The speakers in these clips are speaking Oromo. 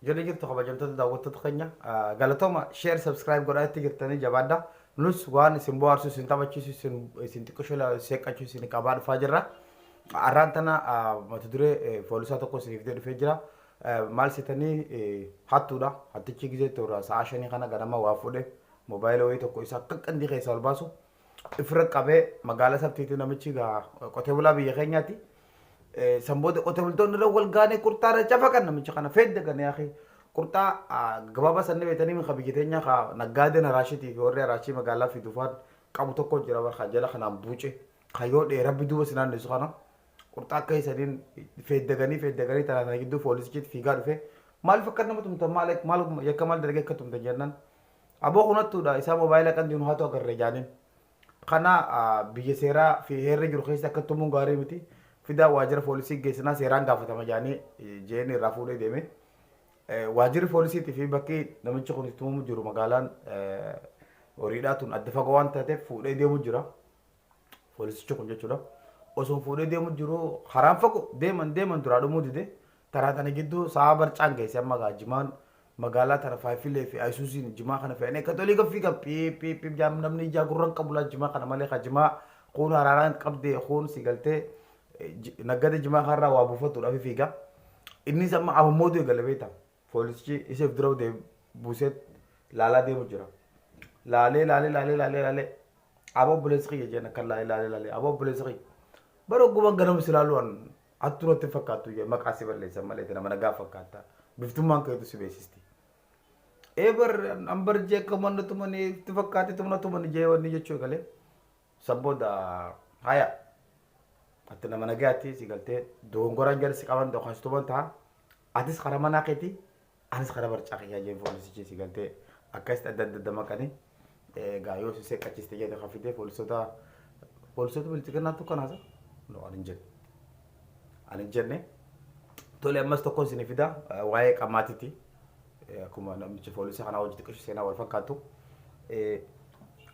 Jala jirtu kabajamtoota daawwattoota keenya galatooma share subscribe godhaa itti jirtanii jabaadha. Nus waan isin bohaarsu isin taphachiisu isin isin xiqqishu seeqqachu isin qabaa dhufaa jirra. Arraan tana mata duree foolisaa tokko isiniif ta'e dhufee jira. Maal seetanii hattuudha. Hattichi gizee toora sa'a shanii kana ganama waa fuudhe moobaayila wayii tokko isa akka qandii keessaa ol baasu ifirra qabee magaala sabtiitu namichi gaa qotee bulaa biyya keenyaati. San booda qotee bultoonni irra wal gaanee qurxaa irra cafaqan namicha kana fedda gane yaaqi. Qurxaa gabaabaa san ni beektanii mika biyya teenyaa ka naggaadeen haraashitii fi warri haraashii magaalaa fi dufaan qabu tokko jira bar ka jala kanaan buuce ka yoo dhee rabbi duuba si naanneessu kana qurxaa akka isaniin feeddaganii feeddaganii tanaa sana gidduu poolisichitti fiigaa dhufe maaliif akka nama tumtan maal maal yakka maal dalagee akka tumtan jennaan Aboo kun hattuudha isaa mobaayila qanti nu hatu agarre jaaniin. Kana biyya seeraa fi heerri jiru keessa akka tumuun gaarii miti. Fidaa waajjira poolisii geessinaa seeraan gaafatama jaanii jeen irraa fuudhee deeme. Waajjirri poolisiitii fi bakki namichi kun itti tumamu jiru magaalaan horiidhaa tun adda fagoo waan taateef fuudhee deemu jira. Poolisichi kun jechuudha. Osoo fuudhee deemu jiru karaan fagoo deeman deeman duraa dhumuu dide karaa tana gidduu sa'a barcaan geesse amma gaa jimaan magaalaa tana faayifilee fi ayisuusiin jimaa kana fe'anii akka tolii gaffii kan piip piip piip jaam namni ijaa gurran qabu laa jimaa kana malee ka jimaa kuun haraaraan qabdee kuun si galtee eh, ji- naggada jimaa kanarraa waa buufattuudhaaf fiiga. Innis amma amammooduu eegale beektaa. Poolisichi isa if dura deem- buusee laalaa deemu jira. Laalee laalee laalee laalee laalee aboo obboleessa kiyya jeen akkan laalee laalee laalee aboo obboleessa kiyya. Bara ogguman ganama si laaluu an hattuu natti hin fakkaattu jee maqaa si balleessan malee tana mana gaaf fakkaatta. Biftummaan keetu si beeksisti. Ee bar an bar jee akka manna tumanii itti fakkaate tumna tumani jee wanni jechuu eegalee. San booda haya ati nama nagayaatti si galtee dogongoraan jarri si qaban dokanstuman ta'a. Atis karaa manaa keetii anis karaa barcaa kiyyaa jeen foolisichi si galtee akkasitti adda adda damaqanii egaa yoo si seeqqachiste jedhe kan fidee foolisoota foolisoota bilchiginnaattu kan haasa no ani hin jenne ani hin jenne tole ammas tokkoon isin fida waa'ee qamaatiti Akkuma namicha foolisii kanaa wajji xiqqishu seenaa wal fakkaattu.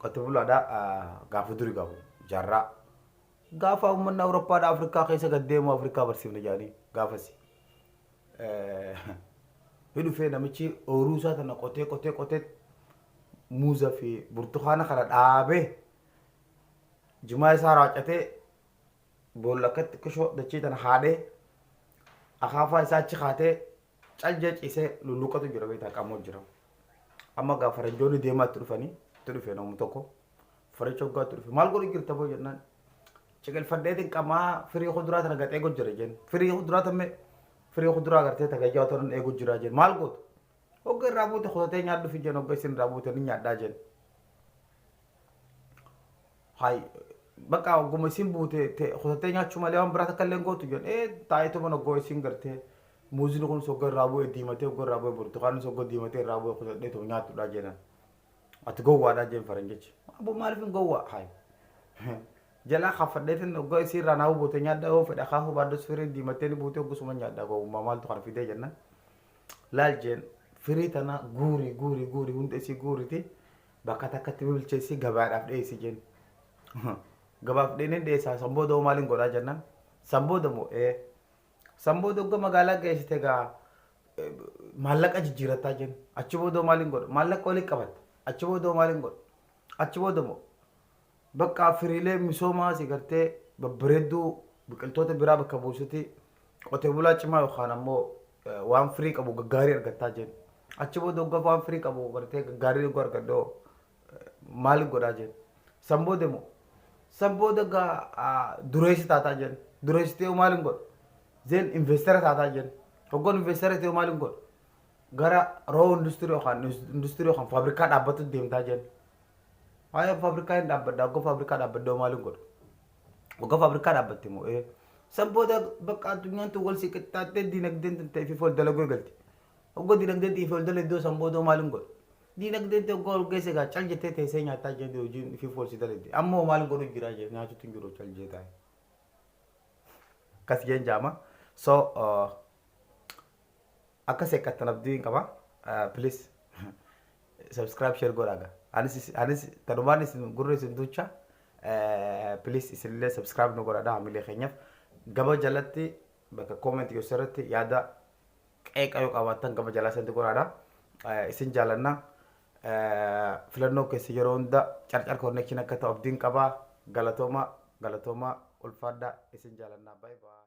Qote bulaadha gaafa duri gaafu jaarraa. Gaafa uummanni Awuroppaadha Afrikaa keessa gad deemu Afrikaa barsiifna jedhanii gaafasi. Ni dhufee namichi ooyiruu isaa tana qotee qotee qotee muuza fi burtukaana kana dhaabee jimaa isaa raacatee boolla akka xiqqishoo dachii tana haadhee akaafaa isaa achi kaatee Cajja cise luluqatu jira beektaa qamoo jira. Amma gaa faranjoonni deemaa itti dhufanii itti dhufe namni tokko faricha hoggaa itti dhufe maal godhu jirta boo jennaan ciqilfadheetiin qamaa firii kuduraa tana gaxee eegu jira jenn firii kuduraa tamme firii kuduraa gartee tagajjaa otoo nan eegu jira jenn maal gootu hogga irraa buute kutatee nyaadhu fi jenn hogga isin irraa buute ni nyaadhaa jenn. Hay bakka ogguma isiin buute te- kutattee nyaachuu malee waan biraa takka illee hin gootu jedhan. Ee taa'eetuma oggoo isiin gartee muuziin kunis oggoo irraa bu'e diimatee oggoo irraa bu'e burtukaannis oggoo diimatee irraa bu'e kutadheetuma nyaadhudhaa jedhan. Ati gowwaadhaa jeen faranjichi. Aboo maaliif hin gowwaa? Hay jalaa kaffadheetin oggoo isii irraa naa buute nyaadhaa yoo fedha kaafuu baaddos firiin diimattee ni buute oggusuma nyaadhaa gowwummaa maaltu kana fidee jennan. Laal jeen firii tana guuri guuri guuri hunda isii guuriti. Bakka takkatti bilcheessii gabaadhaaf dhiyeessi jeen. Gabaaf dheeneen dhiyeessaa san booda hoo maaliin godhaa jennaan san booda moo ee san booda ogga magaalaa geessite gaa maallaqa jijjiirattaa jeen achi booda hoo maaliin godha maallaqa waliin qabatta achi booda hoo maaliin godha achi booda moo Bakka firiilee misoomaa si gartee babbareedduu biqiltoota biraa bakka buusuti qotee bulaa cimaa yookaan ammoo waan firii qabu gaggaarii argattaa jeen. Achi booda hoggaa waan firii qabu gartee gaggaarii hoggaa argadhoo maali godhaa jeen. San booda immoo san booda gaa dureessi taataa jeen. Dureessi ta'ee maali hin godhu? Zeen investara taataa jeen. Hoggaan investara ta'ee maali hin godhu? Gara roo industirii yookaan industirii yookaan faabrikaa dhaabbatu deemtaa jeen. Ayi of fabrikaa hin dhaabbadha ogga fabrikaa dhaabbadda hoo maalin godha ogga fabrikaa dhaabbatte moo ee san booda bakka addunyaan tun wal si qixxaattee diinagdeen tun ta'e fi ol dalaguu eegalte ogga diinagdeen ta'e fi ol daladdoo san booda hoo maalin godha diinagdeen ta'e ogga ol geesse egaa cal jettee teessee nyaataa jettee hojiin fi ol si daladde amma hoo maalin godhu jira jee nyaatutu hin jiru cal jee taa'e akkas jeen jaama so uh, Akka seeqqattan abdiin qaba please subscribe share godhaa ga anis anis tanumaan isin gurra isin duucha please isinillee subscribe nu godhadha hamilee keenyaf gama jalatti bakka comment keessan irratti yaada qeeqa yoo qabaattan gama jalaa santi godhaadha isin jaalanna filannoo keessa yeroo hunda carcar connection akka ta'u abdiin qaba galatooma galatooma ulfaadha isin jaalanna bye bye